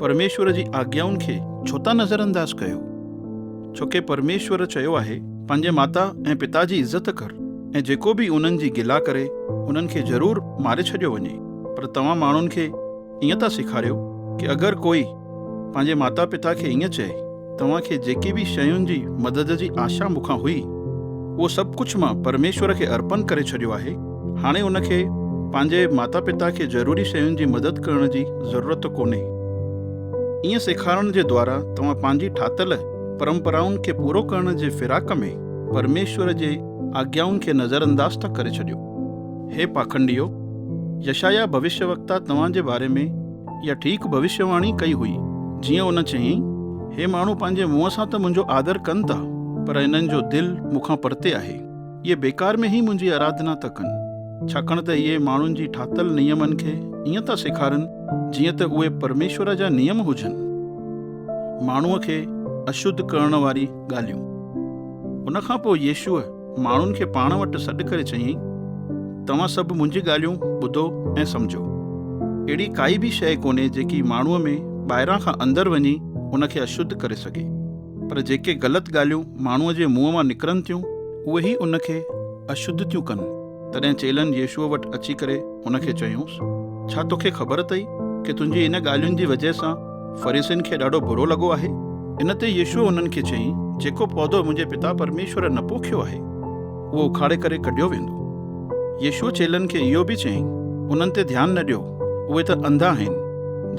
پرميشور جي آگيائن کي ڇو ٿا نظرانداز ڪيو؟ ڇو ڪي پرميشور چيو آهي، پنهنجي ماتا ۽ پتا جي عزت ڪر ۽ جيڪو به انهن جي گلا ڪري انهن کي ضرور ماري ڇڏيو وڃي پر توهان ماڻهن کي ائين ٿا سيکاريو ڪي اگر ڪوئي پنهنجي ماتا پتا کي ائين چئي توهان کي جيڪي به شين جي مدد جي آشا مون کان هئي، اهو سڀ ڪجهه مان پرميشور کي ارپن ڪري ڇڏيو آهي. هاڻي ان کي پنهنجي ماتا پتا کي ضروري شين جي مدد ڪرڻ جي ضرورت ڪونهي. ائين سيکارڻ جي دوارا توهان پنهنجي ٺاهتل پرمپرائن کي پورو ڪرڻ جي فراق ۾ پرميشور جي آگيائن کي نظر انداز ٿا ڪري ڇڏيو. هي پاکنڊيو! يشعيا ڀوشيوڪتا توهان جي باري ۾. اها ٺيڪ ڀوشيواڻي ڪئي هئي. جيئن ان چيائين، هي ماڻهو پنهنجي منهن سان ته منهنجو آدر ڪن ٿا، پر انهن جو دل مون کان پرتي آهي. اهي بيڪار ۾ ئي منهنجي آراڌنا ٿا ڪن، ڇاڪاڻ ته اهي ماڻهن جي ٺاهتل نيمن کي ائين ٿا سيکارن، جيئن ته اهي پرميشور جا نيم هجن. ماڻهوء کي اشڌ ڪرڻ واري ڳالهيون. ان کان پوء يسوع. ماڻهن کي پاڻ وٽ سڏ ڪري چيائين، توهان سڀ منهنجي ڳالهيون ٻڌو ۽ سمجهو. اهڙي ڪائي به شيء ڪونهي جيڪي ماڻهوء ۾ ٻاهران کان اندر وڃي ان کي اشڌ ڪري سگهي، پر جيڪي غلط ڳالهيون ماڻهوء جي منهن مان نڪرن ٿيون، اهي ئي ان کي اشڌ ٿيون ڪن. تڏهن چيلن يسوع وٽ اچي ڪري هن کي چيونس، ڇا توکي خبر اٿئي ڪي تنهنجي ان ڳالهين جي وجهه سان فريسين کي ڏاڍو برو لڳو آهي؟ ان تي يسوع انهن کي چيائين، جيڪو پودو منهنجي پتا پرميشور نه پوکيو آهي، اهو اکاڙي ڪري ڪڍيو ويندو. يسوع چيلن کي اهو به چيائين، انهن تي ڌيان نه ڏيو، اهي ته انڌا آهن،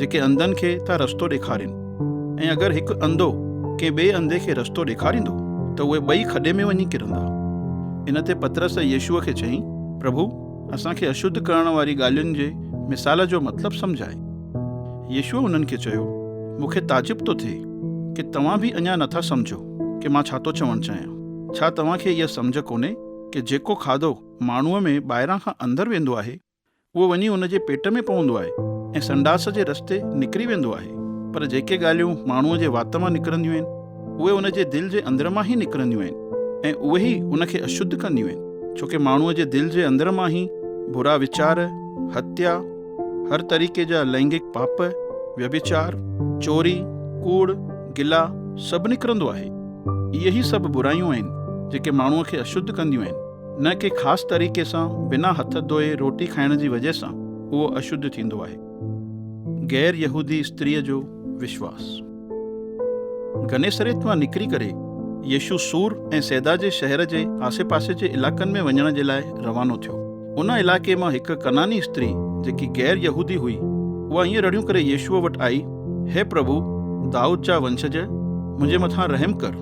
جيڪي انڌن کي ٿا رستو ڏيکارين. ۽ اگر هڪ انڌو ڪنهن ٻئي انڌي کي رستو ڏيکاريندو ته اهي ٻئي کڏي ۾ وڃي ڪرندا. ان تي پطرس يسوع کي چيائين، پرڀو، اسان کي اشڌ ڪرڻ واري ڳالهين جي مثال جو مطلب سمجهاء. يسوع انهن کي چيو، مون کي تعجب ٿو ٿئي ڪي توهان به اڃا نه ٿا سمجهو ڪي مان ڇا ٿو چوڻ چاهيان. ڇا توهان کي اها سمجهه ڪونهي ڪي جيڪو کاڌو ماڻهوء ۾ ٻاهران کان اندر ويندو آهي اهو وڃي ان جي پيٽ ۾ پوندو آهي ۽ سنڊاس جي رستي نڪري ويندو آهي. پر جيڪي ڳالهيون ماڻهوء جي وات مان نڪرنديون آهن، اهي ان جي دل جي اندر مان ئي نڪرنديون آهن ۽ اهي ئي ان کي اشڌ ڪنديون آهن، ڇو ڪي ماڻهوء جي دل جي اندر مان ئي برا ويچار، هتيا، هر طريقي جا لئنگڪ پاپ، ويڀچار، چوري، ڪوڙ، گلا، سڀ نڪرندو آهي. اهي ئي سڀ برايون آهن، جيڪي ماڻهوء کي اشڌ ڪنديون آهن. نه ڪي خاص طريقي سان بنا هٿ ڌوئي روٽي کائڻ جي وجه سان اهو اشڌ ٿيندو آهي. غير يهودي استريء جو وشواس. گنيسريت مان نڪري ڪري يسوع سور ۽ سيدا جي شهر جي آسي پاسي جي علائقن ۾ وڃڻ جي لاء روانو ٿيو. ان علائقي مان هڪ ڪنعاني استري جيڪي غير يهودي هئي اها ائين رڙيون ڪري يسوع وٽ آئي، هي پرڀو، دائود جا ونسج، منهنجي مٿان رحم ڪر،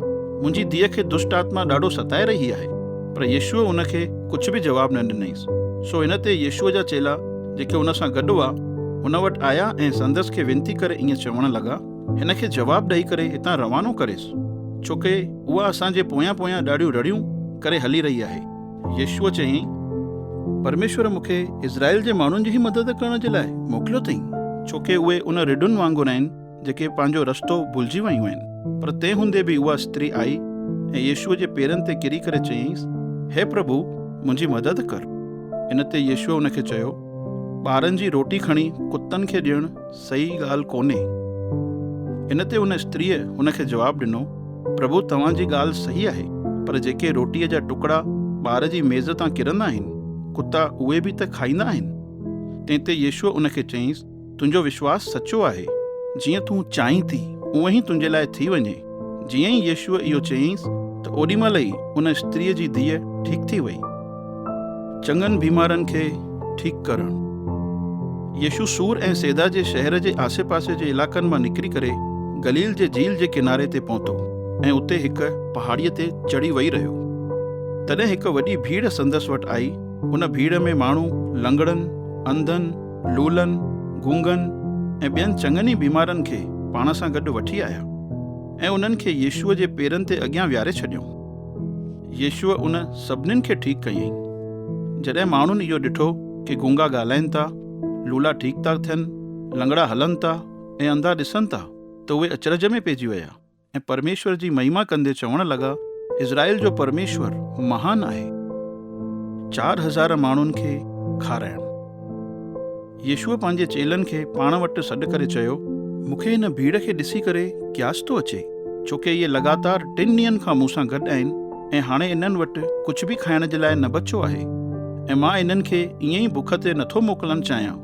منهنجي ڌيء کي دشٽ آتما ڏاڍو ستائي رهي آهي. پر يسوع ان کي ڪجهه به جواب نه ڏنائينس. سو ان تي يسوع جا چيلا جيڪي ان سان گڏ هئا، هن وٽ آيا ۽ سندس کي وينتي ڪري ائين چوڻ لڳا، هن کي جواب ڏئي ڪري هتان روانو ڪريس، ڇو ڪي اها اسان جي پويان پويان ڏاڍيون رڙيون ڪري هلي رهي آهي. يشوع چيائين، پرميشور مون کي اسرائيل جي ماڻهن جي ئي مدد ڪرڻ جي لاء موڪليو اٿئي. ڇو ڪي اهي ان رڍن وانگر آهن، جيڪي پنهنجو رستو ڀلجي ويون آهن. پر تنهن هوندي به اها استري آئي ۽ يشوع جي پيرن تي ڪري ڪري چيائينس، هي پرڀو، منهنجي مدد ڪر. ان تي يشوع ان کي چيو، ٻارن جي روٽي کڻي ڪتن کي ڏيڻ صحيح ڳالهه ڪونهي. ان تي ان استريء هن کي جواب ڏنو، پرڀو توهان جي ڳالهه صحيح آهي، پر جيڪي روٽيء جا ٽڪڙا ٻار جي ميز تان ڪرندا آهن، ڪتا اهي به ته کائيندا آهن. تنهن تي يسوع ان کي چيائينس، تنهنجو وشواس سچو آهي. جيئن تون چاهين ٿي، اونهي ئي تنهنجي لاء ٿي وڃي. جيئن ئي يسوع اهو چيائينس ته اوڏي مهل ئي ان استريء جي ڌيء ٺيڪ ٿي وئي. چڱن بيمارن کي ٺيڪ ڪرڻ. يسوع سور ۽ سيدا جي شهر جي آسي پاسي جي علائقن مان نڪري ڪري گليل جي جھيل جي ڪناري تي پهتو ۽ اتي هڪ پهاڙيء تي چڙهي ويهي رهيو. تڏهن هڪ وڏي ڀيڙ سندس وٽ آئي، ان ڀيڙ ۾ ماڻهو لنگڙن، انڌن، لولن، گونگن ۽ ٻين چڱن ئي بيمارن کي پاڻ سان گڏ وٺي آيا ۽ انهن کي يسوع جي پيرن تي اڳيان ويهاري ڇڏيائون. يسوع ان سڀنين کي ٺيڪ ڪيائين. جڏهن ماڻهن اهو ڏٺو ڪي گونگا ڳالهائين ٿا، لولا ٺيڪ ٿا ٿين، لنگڙا هلن ٿا ۽ انڌا ڏسن ٿا ته اهي اچرج ۾ پئجي ويا ۽ پرميشور جي مهيما ڪندي چوڻ لڳا، اسرائيل جو پرميشور مهان آهي. چار هزار ماڻهن کي کارائڻ. يسوع پنهنجي چيلن کي پاڻ وٽ سڏ ڪري چيو، مون کي هن ڀيڙ کي ڏسي ڪري ڪياس ٿو اچي، ڇو ڪي اهي لڳاتار ٽن ڏينهن کان مون سان گڏ آهن ۽ هاڻي انهن وٽ ڪجهه به کائڻ جي لاء نه بچو آهي ۽ مان انهن کي ائين ئي بک تي نٿو موڪلڻ چاهيان،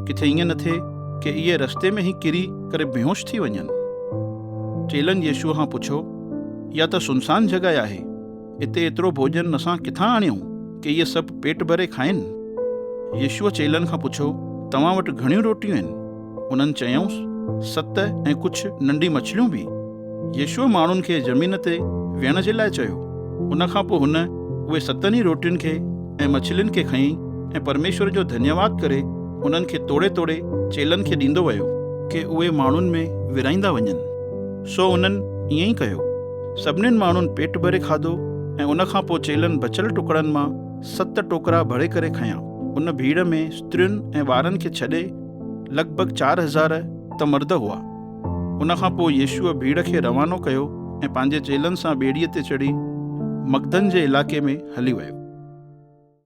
ڪٿي ائين نه ٿئي ڪي اهي رستي ۾ ئي ڪري ڪري بيهوش ٿي وڃن. چيلن يسوع کان پڇيو، اها ته سنسان جڳهه آهي. اتي ايترو ڀوڄن اسان ڪٿان آڻيون، ڪي اهي سڀ پيٽ ڀري کائين؟ يسوع چيلن کان پڇيو، توهان وٽ گهڻيون روٽيون آهن؟ انهن چيائونس، ست ۽ ڪجهه ننڍيون مڇليون به. يسوع ماڻهن کي زمين تي ويهڻ جي لاء چيو. ان کان پوء هن اهي ستن ئي روٽين کي ۽ مڇلين کي کنئي ۽ پرميشور جو ڌنيواد ڪري انهن کي توڙي توڙي چيلن کي ڏيندو ويو، ڪي اهي ماڻهن ۾ ورهائيندا وڃن، سو انهن ائين ئي ڪيو. سڀنين ماڻهن پيٽ ڀري کاڌو ۽ ان کان پوء چيلن بچيل ٽڪڙن مان ست ٽوڪرا ڀري ڪري کنيا. ان ڀيڙ ۾ استرين ۽ ٻارن کي ڇڏي لڳ ڀڳ چار هزار ته مرد هئا. ان کان پوء يسوع ڀيڙ کي روانو ڪيو ۽ پنهنجي چيلن سان ٻيڙيء تي چڙهي مگدن جي علائقي ۾ هلي ويو.